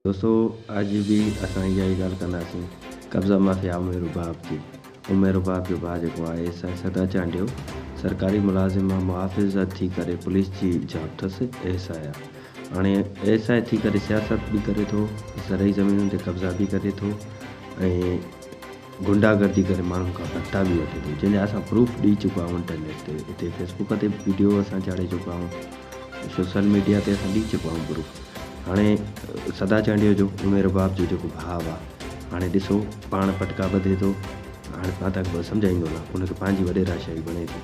دوستو اڄ به اسان اها ئي ڳالهه ڪنداسين قبضا مافيا امير رباب جي. امير رباب جو ڀاء جيڪو آهي سائين سدا چانڊيو سرڪاري ملازم مان محافظ ٿي ڪري پوليس جي جاب ٿس ايس آء هاڻي ايس آء ٿي ڪري سياست به ڪري ٿو زرعي زمينن تي قبضا به ڪري ٿو ۽ غنڊا گردي ڪري ماڻهن کان ڀتا به وٺي ٿو جنهن جا اسان پروف ڏئي چڪا آهيون انٽرنيٽ تي اتي فيس بوڪ تي به ويڊيو اسان چاڙهي چڪا آهيون سوشل ميڊيا تي اسان ڏئي چڪا آهيون پروف هاڻي سدا چانڊيو جو امي رباب جو جيڪو ڀاء آهي هاڻي ڏسو پاڻ پٽڪا ٻڌي ٿو هاڻي مان تان کي سمجهائيندو نه ان کي پنهنجي وڏيرا شاهي بڻي ٿي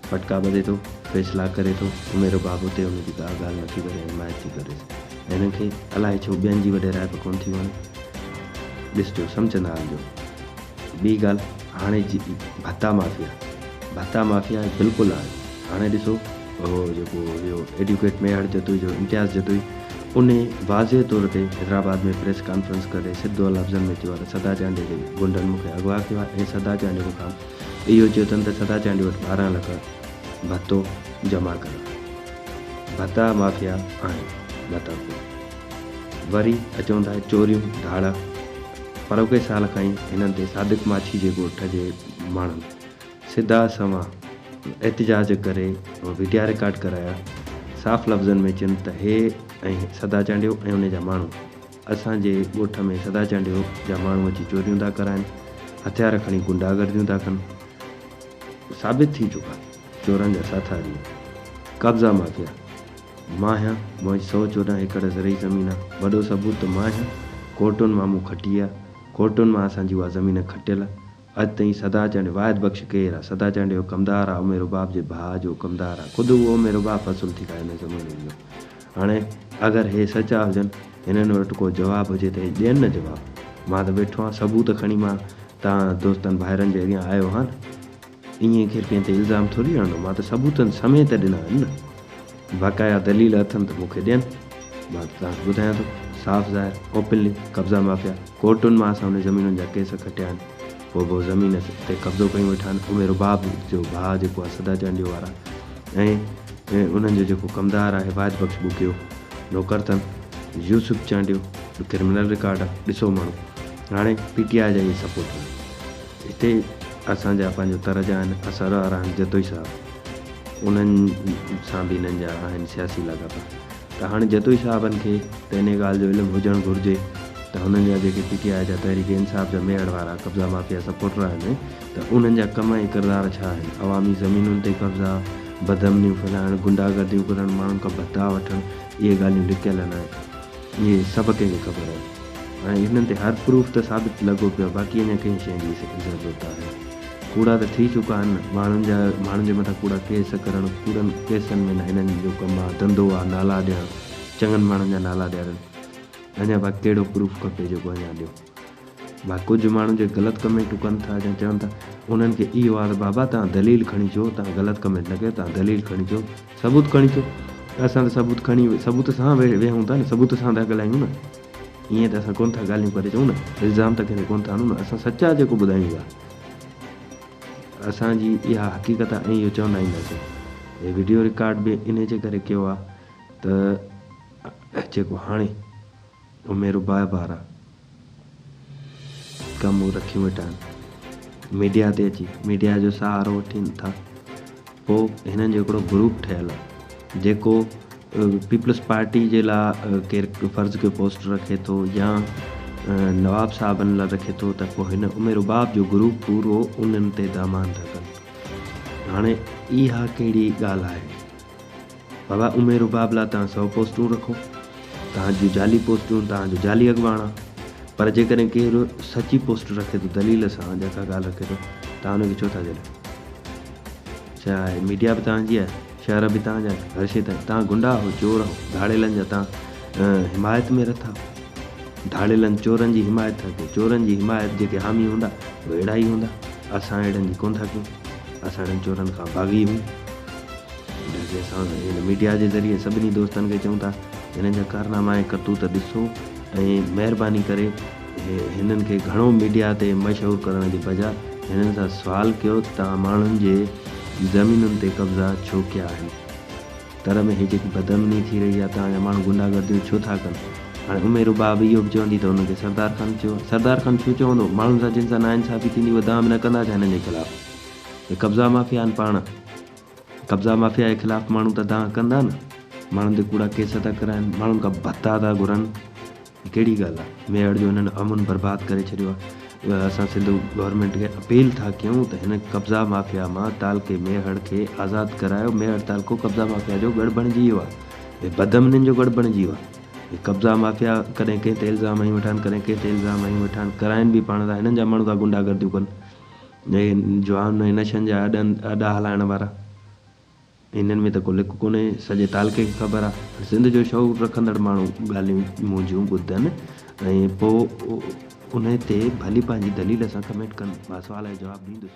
پٽڪا ٻڌي ٿو فيصلا ڪري ٿو امي رباب اتي ان جي ڪا ڳالهه نه ٿي ڪري حمايت ٿي ڪريس هن کي الائي ڇو ٻين جي وڏي رائپ ڪونه ٿي وڻي. ڏسجو سمجهندا هلجو. ٻي ڳالهه هاڻي جي ڀتا مافيا ڀتا مافيا بلڪل آهي هاڻي ڏسو اهو جيڪو اهو ايڊوڪيٽ ميهڙ جتوئي جو امتياز جتوئي ان واضح طور تي حيدرآباد ۾ پريس ڪانفرنس ڪري سڌو لفظن ۾ چيو آهي ته سدا چانڊيو جي غنڊن مون کي اغوا ڪيو آهي ۽ سدا چانڊيو مون کان اهو چيو اٿن ته سدا چانڊيو وٽ ٻارهن لک ڀتو جمع ڪريو ڀتا مافيا آهن ڀتا خور. وري اچون ٿا چوريون ڌاڙا پروڪي سال کان ئي هنن تي صادق ماڇي جي ڳوٺ جي ماڻهن سڌا سنوان احتجاج ڪري وڊيا رڪارڊ ڪرايا صاف لفظن ۾ چين ته هي ۽ سدا چانڊيو ۽ انهي جا ماڻهو اسان جي ڳوٺ ۾ سدا چانڊيو جا ماڻهو اچي چوريون ٿا ڪرائين هٿيار کڻي غنڊا گرديون ٿا ڪن ثابت ٿي چڪا. چورن جا ساٿاري، قبضا مافيا، ماهيان موهج سؤ چوڏهن ايڪڙ زرعي زمين آ، وڏو ثبوت ته ماهيان ڪورٽن مان مون کٽي آ، ڪورٽن مان اسان جي اها زمين کٽيل آ، اڄ تائين سدا چانڊيو واحد بخش ڪير آ، سدا چانڊيو جو ڪمدار آ، عمي رباب جي ڀاء جو اهو ڪمدار آ، خود اهو عمي رباب فصل ٿي کائي ان زمين جو، هاڻي اگر هي سچا هجن، هنن وٽ ڪو جواب هجي ته هي ڏين نه جواب، مان ته ويٺو آهيان ثبوت کڻي مان توهان دوستن ڀائرن جي اڳيان آيو هان. ائين ڪير ڪنهن تي الزام ٿوري هڻندو، مان ته ثبوتن سميت ڏنا آهن نه. باقايا دليل اٿن ته مون کي ڏين. مان ته توهان کي ٻڌايان ٿو، صاف ظاهر، اوپنلي، قبضا مافيا ڪورٽن مان اسان انهي زمينن جا ڪيس کٽيا آهن. هو به زمين تي قبضو ڪيون ويٺا آهن. امير رباب جو ڀاء جيڪو آهي سدا چانڊيو وارا ۽ انهن جو جيڪو ڪمدار آهي واحد بخش ٻوڪيو نوڪر اٿن. يوسف چانڊيو به ڪرمنل رڪارڊ آهي. ڏسو ماڻهو هاڻي پي ٽي آء جا اهي سپورٽر آهن. هتي اسان جا پنهنجو طرح جا آهن اسرار احمد جتوئي صاحب انهن سان به هنن جا آهن سياسي لاڳاپا ته هاڻي جتوئي صاحبن کي ته انهي ڳالهه جو علم هجڻ گهرجي ته هنن جا جيڪي پي ٽي آء جا تحريڪ انصاف جا ميهڙ وارا قبضا مافيا سپورٽر آهن ته انهن جا ڪم ۽ ڪردار ڇا آهن عوامي زمينن تي قبضا بدامنيون ڦهلائڻ غنڊا گرديون ڪرڻ ماڻهن کان ڀتا وٺڻ اهي ڳالهيون لڪيل نه آهن. اهي سڀ ڪنهن کي خبر آهي. هاڻي انهن تي هر پروف ته ثابت لڳو پيو آهي باقي اڃا ڪنهن شيء جي ضرورت آهي. ڪوڙا ته ٿي چڪا آهن نه. ماڻهن جا ماڻهن جي مٿان ڪوڙا ڪيس ڪرڻ ڪوڙن ڪيسن ۾ نه هنن جو ڪم آهي ڌنڌو آهي نالا ڏيڻ چڱن ماڻهن جا نالا ڏيارين اڃا باقي ڪهڙو پروف کپي جيڪو اڃا ڏيو. ڀا ڪجهه ماڻهو جي غلط ڪمينٽون ڪن ٿا جا چون ٿا انهن کي اهو آ ته بابا تهان دليل کڻي چئو تهان غلط ڪمينٽ نه ڪيو تهان دليل کڻي چئو ثبوت کڻي چئو ته اسان ته ثبوت کڻي ثبوت سان ويهون ٿا نه ثبوت سان ٿا ڳالهايون نه ائين ته اسان ڪونه ٿا ڳالهيون ڪري چئون نه الزام ته ڪنهن تي ڪونه ٿا هڻون نه اسان سچا جيڪو ٻڌايون ٿا اسان جي اها حقيقت آ ۽ اهو چوندا اينداسين هي وڊيو رڪارڊ به انهي جي ڪري ڪيو آ ته جيڪو هاڻي امي رباعي بارا ڪم هو رکيون ويٺا آهن ميڊيا تي اچي ميڊيا جو سهارو وٺين ٿا پو هنن جو هڪڙو گروپ ٺهيل آهي جيڪو پيپلز پارٽي جي لا ڪير فرض ڪيو پوسٽ رکي ٿو يا نواب صاحبن لا رکي ٿو ته پو هن امي رباب جو گروپ پورو انهن تي دامان ٿا ڪن هاڻي اها ڪهڙي ڳالهه آهي بابا امير رباب لا توهان سؤ پوسٽون رکو توهان جون جعلي پوسٽون توهان جو جعلي اڳواڻ آ پر جيڪڏهن ڪير سچي پوسٽ رکي ٿو دليل سان جا ڪا ڳالهه رکي ٿو توهان ان کي ڇو ٿا جهليو ڇا آهي ميڊيا به توهان جي آهي شهر به توهان جا آهن هر شي تائين توهان گنڊا آهو چور آهو ڌاڙيلن جا توهان حمايت ۾ رٿا ڌاڙيلن چورن جي حمايت ٿا ڪيو چورن جي حمايت جيڪي حامي هوندا اهي اهڙا ئي هوندا اسان اهڙن جي ڪون ٿا ڪيون اسان اهڙن چورن کان باغي هيون ڊي جي سانگ هن ميڊيا جي ذريعي سڀني دوستن کي چئون ٿا هنن جا ڪارناما ۽ ڪرتوت ڏسو ۽ مهرباني ڪري هنن کي گهڻو ميڊيا تي مشهور ڪرڻ جي بجاء هنن سان سوال ڪيو ته توهان ماڻهن جي زمينن تي قبضا ڇو ڪيا آهن تر ۾ هي جيڪي بدامني ٿي رهي آهي توهان جا ماڻهو غنڊا گرديون ڇو ٿا ڪن هاڻي امي رباب اهو به چوندي ته هنن کي سردار خان چيو سردار خان ڇو چوندو ماڻهن سان جن سان ناانصافي ٿيندي اهي دام نه ڪندا ڇا هنن جي خلاف. هي قبضا مافيا آهن پاڻ قبضا مافيا جي خلاف ماڻهو ته دانهن ڪندا نه ماڻهن تي ڪوڙا ڪيس ٿا ڪرائن ماڻهن کان ڀتا ٿا گهرن هي ڪهڙي ڳالهه آهي ميهڙ جو هنن امن برباد ڪري ڇڏيو آهي اسان سنڌ گورنمينٽ کي اپيل ٿا ڪيون ته هن قبضا مافيا مان تعلقي ميهڙ کي آزاد ڪرايو ميهڙ تعلقو قبضا مافيا جو ڳڙ بڻجي ويو آهي هي بدامنين جو ڳڙ بڻجي ويو آهي هي قبضا مافيا ڪڏهن ڪنهن تي الزام هنيون ويٺا آهن ڪڏهن ڪنهن تي الزام هنيون ويٺا آهن ڪرائن به پاڻ ٿا هنن جا ماڻهو ٿا غنڊا گرديون ڪن اهي جوان نئين نشن جا اڏا هلائڻ وارا. هنن ۾ ته ڪو لڪ ڪونهي، سڄي تعلقي کي خبر آ. هن سنڌ جو شعور رکندڙ ماڻهو ڳالهيون منهنجون ٻڌن ۽ پوء انهي تي ڀلي پنهنجي دليل سان ڪمينٽ ڪن، مان سوال جو جواب ڏيندس.